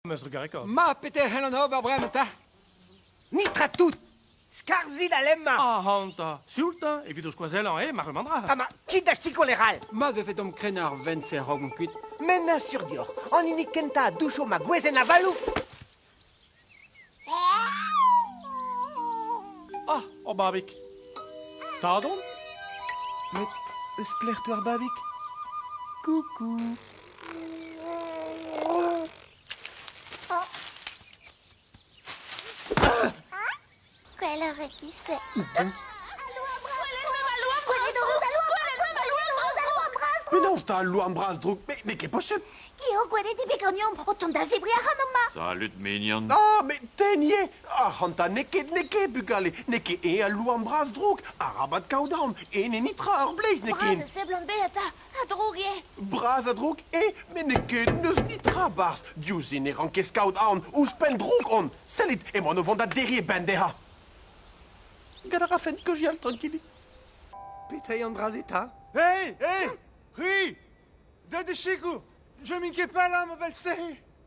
am eus trugarekaet. Ma, peter c'hellan ober bremañ ta? Nitra tout! Skarzit al lemma! Ac'hanta, sioultañ evit ho skoazellañ, eh, ma remandra. Ha ma, kit da sikour e ral! Mat vefe domp krenañ ar vent-se a-raok omp kuit. Met na sur dioc'h, an hini kentañ a doucho ma gwezenn avaloù! Ah, ur babig. Tad on? Met eus plec'h 'teu ar babig? Coucou Gwelloc'h e-kis-se. Penaos ta al louarn bras droug? Mais, mais qu'est possible Geo gweledi be gagnon o tont da zebri ac'hanomp ma Salut, mignon Ah, mais tenye Ac'hanta, n'eo ket, n'eo ket, bugale N'eo ket e al louarn bras droug Arabat kaout aon E ne nitra ar bleiz, n'eo ket Bras, seblant be eta A-droug eo. Bras a-droug eo, met n'eo ket n'eus netra barzh. Diouzh se ne ran ket skaout aon. Ouzhpenn droug on. Sellit, emaon o vont da derriñ e benn dezhañ. Gant a rafen que j'y aille tranquille. Petai an dra-se ta? Hei, hei, c'hwi! Da de sikour! Je m'inquiète pas là, ma belle-sœur!